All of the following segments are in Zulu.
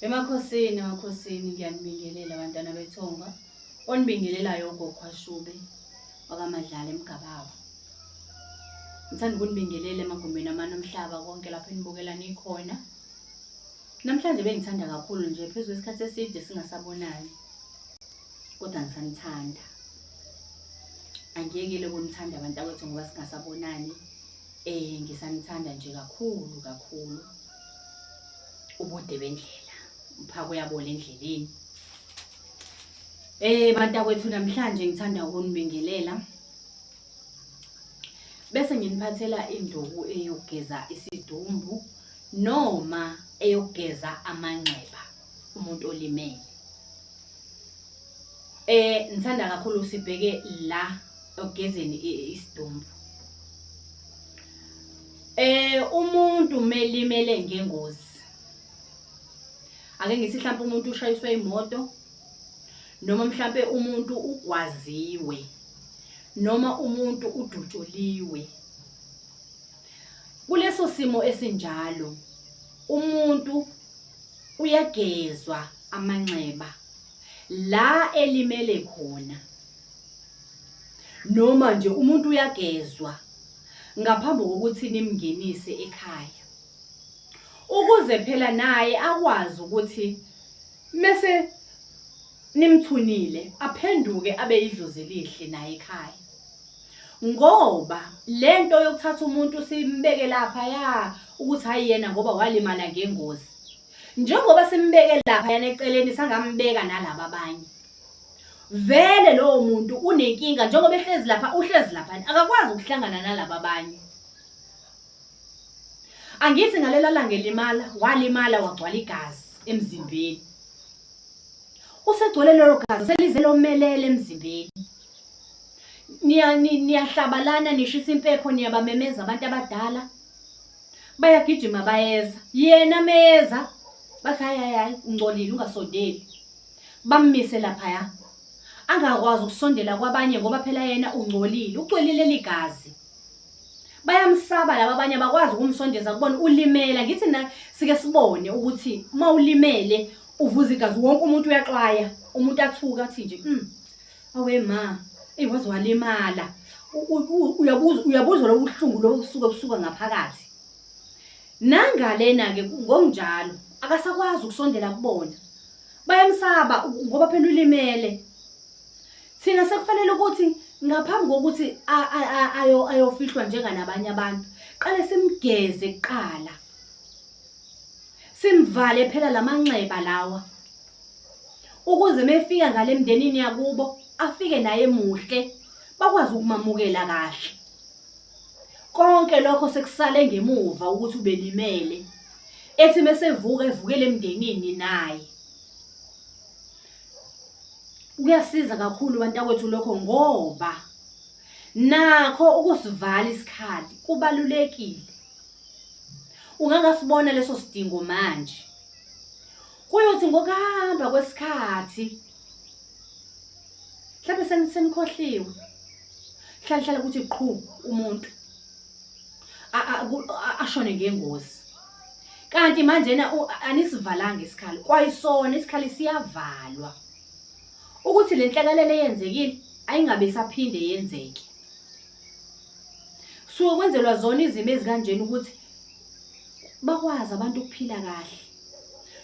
Emakhosini, emakhosini ngiyanibingelela bantwana bethonga. Onibingelelayo ugogo Ashube wakaMadlala eMgabawa. Ngithanda ukunibingelela emagumbini amane omhlaba konke lapho enibukela nikhona. Namhlanje bengithanda kakhulu nje phezu kwesikhathi eside singasabonani. Kodwa ngisanithanda. Angiyekele ukunithanda abantu akwethu ngoba singasabonani. Eh ngisanithanda nje kakhulu kakhulu. ubude bendlela uphaka uyabola endleleni eh bantakwethu namhlanje ngithanda ukunibingelela bese nginiphathela induku eyogeza isidumbu noma eyogeza amanxeba umuntu olimele eh ngithanda kakhulu sibheke la ogezeni isidumbu Eh umuntu melimele ngengozi. Ake ngithi mhlawumbe umuntu ushayiswe imoto noma mhlawumbe umuntu ugwaziwe noma umuntu udutshuliwe. Kuleso simo esinjalo umuntu uyagezwa amanxeba la elimele khona noma nje umuntu uyagezwa ngaphambi kokuthi nimngenise ekhaya ukuze phela naye akwazi ukuthi mese nimthunile aphenduke abe idlozi elihle naye ekhaya ngoba lento yokuthatha umuntu simbeke lapha ya ukuthi hayi yena ngoba walimala ngengozi njengoba simbeke lapha yana eceleni sangambeka nalabo abanye vele lowo muntu unenkinga njengoba ehlezi lapha uhlezi laphani akakwazi ukuhlangana nalaba abanye angithi ngalela langa elimala walimala wagcwala igazi emzimbeni usegcwele lelo gazi selize lomelele emzimbeni niya ni- niyahlabalana nishisa impepho niyabamemeza abantu abadala bayagijima bayeza yena meyeza bathi hayi hayi hayi ungcolile ungasondeli bammise laphaya angakwazi ukusondela kwabanye ngoba phela yena ungcolile ucwelile ligazi bayamsaba laba abanye abakwazi ukumsondeza kubona ulimela ngithi na sike sibone ukuthi uma ulimele uvuza igazi wonke umuntu uyaxwaya umuntu athuka athi nje mm awe ma eyi waze walimala uyabuza uyabuza lobu buhlungu lobu busuke busuka ngaphakathi nangalena ke ngokunjalo akasakwazi ukusondela kubona bayamsaba ngoba phela ulimele thina sekufanele ukuthi ngaphambi kokuthi ayofihlwa njenganabanye abantu qale simgeze kuqala simvale phela lamanxeba lawa ukuze mefika ngale mndenini yakubo afike naye muhle bakwazi ukumamukela kahle konke lokho sekusale ngemuva ukuthi ubelimele ethi mesevuka evukele emndenini naye kuyasiza kakhulu bantakwethu lokho ngoba nakho ukusivala isikhathi kubalulekile ungangasibona leso sidingo manje kuyothi ngokuhamba kwesikhathi mhlawumbe senikhohliwe hlala hlala ukuthi qhu umuntu ashone ngengozi kanti manje na anisivalanga isikhali kwayisona isikhali siyavalwa ukuthi le nhlakalelo eyenzekile ayingabe isaphinde yenzeke suke kwenzelwa zona izimo ezikanjena ukuthi bakwazi abantu ukuphila kahle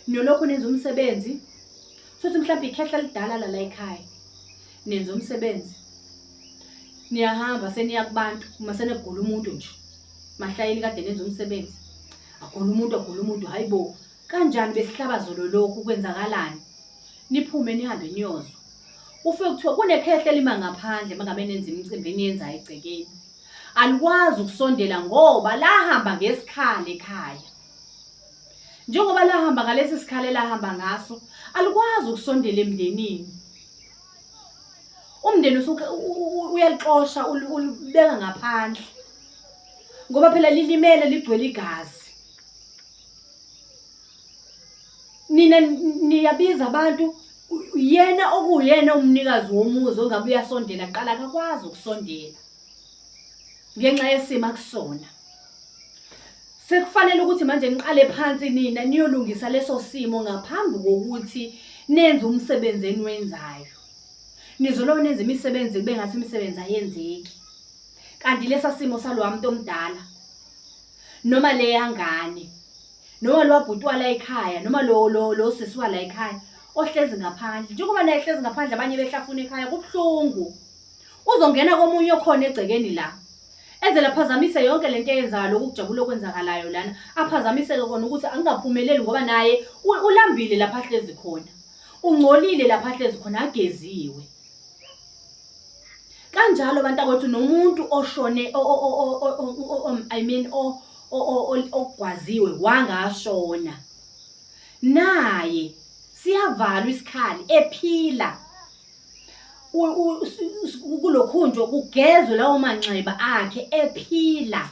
nolokhu nenza umsebenzi sothi mhlawumbe ikhehla lidala la la ekhaya nenza umsebenzi niyahamba seniya kubantu uma senegula umuntu nje mahlayeni kade nenza umsebenzi agula umuntu agula umuntu hayi bo kanjani besihlaba zolo lokhu kwenzakalani niphume nihambe niyozwa ufe kuthiwa kunekhehle lima ngaphandle mangabe nenza imicimbi eniyenza egcekeni alikwazi ukusondela ngoba lahamba ngesikhali ekhaya njengoba lahamba ngalesi sikhali elahamba ngaso alikwazi ukusondela emndenini umndeni usuke uyalixosha ulibeka ngaphandle ngoba phela lilimele ligcwele igazi nina niyabiza abantu yena okuyena umnikazi womuzi ongabe uyasondela qala akakwazi ukusondela ngenxa yesimo akusona sekufanele ukuthi manje niqale phansi nina niyolungisa leso simo ngaphambi kokuthi nenze umsebenzi eniwenzayo nizoloko nenza imisebenzi kube ngathi imisebenzi ayenzeki kanti lesa simo salowa muntu omdala noma leyangane noma lwabhutwa la ekhaya noma lo lo lo sisiwa la ekhaya ohlezi ngaphandle njengoba naye hlezi ngaphandle abanye behlafuna ekhaya kubuhlungu Uzongena komunye okhona egcekeni la. Enzela phazamise yonke lento eyenzayo lokhu kujabula okwenzakalayo lana. Aphazamiseke kona ukuthi angingaphumeleli ngoba naye ulambile lapha hlezi khona. Ungcolile lapha hlezi khona ageziwe. Kanjalo abantu akwethu nomuntu oshone I mean ogwaziwe wangashona. Naye siyavalwa isikhali ephila. U- u- us- us- kulokhunjwa kugezwe lawo manxeba akhe ephila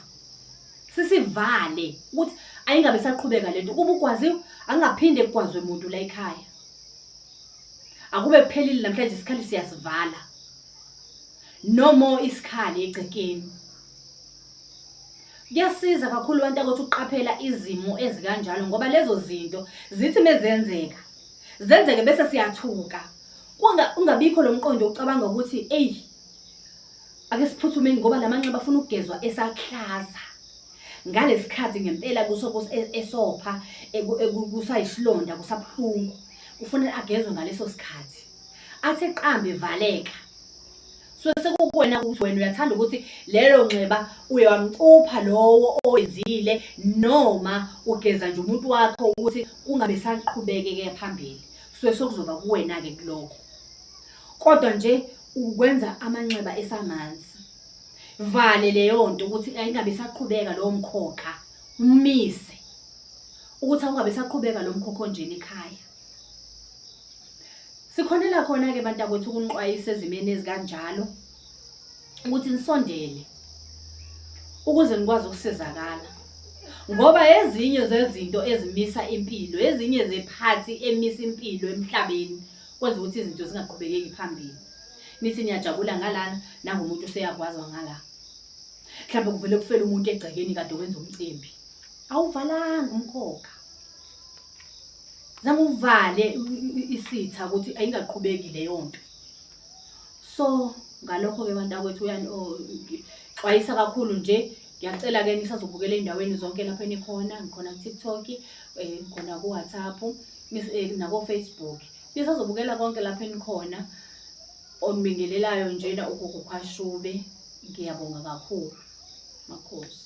sisivale ukuthi ayingabe saqhubeka lento kuba ugwaziwe angaphinde kugwazwe muntu la ekhaya akube kuphelile namhlanje isikhali siyasivala no more isikhali egcekeni kuyasiza kakhulu abantu ukuthi uqaphela izimo ezikanjalo ngoba lezo zinto zithi mezenzeka zenzeke bese siyathuka kunga ungabikho lomqondo ucabanga ukuthi ey ake siphuthumeni ngoba lamanxeba afuna ukugezwa esaklaza ngalesikhathi ngempela kusoko e-, esopha kusayishilonda kusabuhlungu kufanele agezwe ngaleso sikhathi athe qambe valeka so sekukuwena ukuthi wena uyathanda ukuthi lelo nxeba uye wamcupha lowo owenzile noma ugeza nje umuntu wakho ukuthi kungabe saqhubekeke phambili so sekuzoba kuwena-ke kulokho kodwa nje ukwenza amanxeba esamanzi vale leyo nto ukuthi ayingabe saqhubeka lowo mkhokha umise ukuthi awungabe saqhubeka lo mkhokho njena ekhaya Sikhonela khona-ke bantakwethu ukuniqwayisa ezimeni ezikanjalo ukuthi nisondele ukuze nikwazi ukusizakala ngoba ezinye zezinto ezimisa impilo ezinye zephathi emisa impilo emhlabeni kwenza ukuthi izinto zingaqhubekeki phambili nithi niyajabula ngalana nangomuntu useyakwazwa ngala mhlawumbe kuvele kufele umuntu egcekeni kade wenza umcimbi awuvalanga umkhokha zama uvale isitha ukuthi ayingaqhubeki leyo nto so ngalokho-ke abantu akwethu xwayisa kakhulu nje ngiyacela-ke nisazobukela ey'ndaweni zonke lapho enikhona ngikhona ku-tiktok um ngikhona ku-whatsapp eh, nako-facebook nisazobukela konke lapho enikhona onibingelelayo njena ugogo khashube ngiyabonga kakhulu makhosi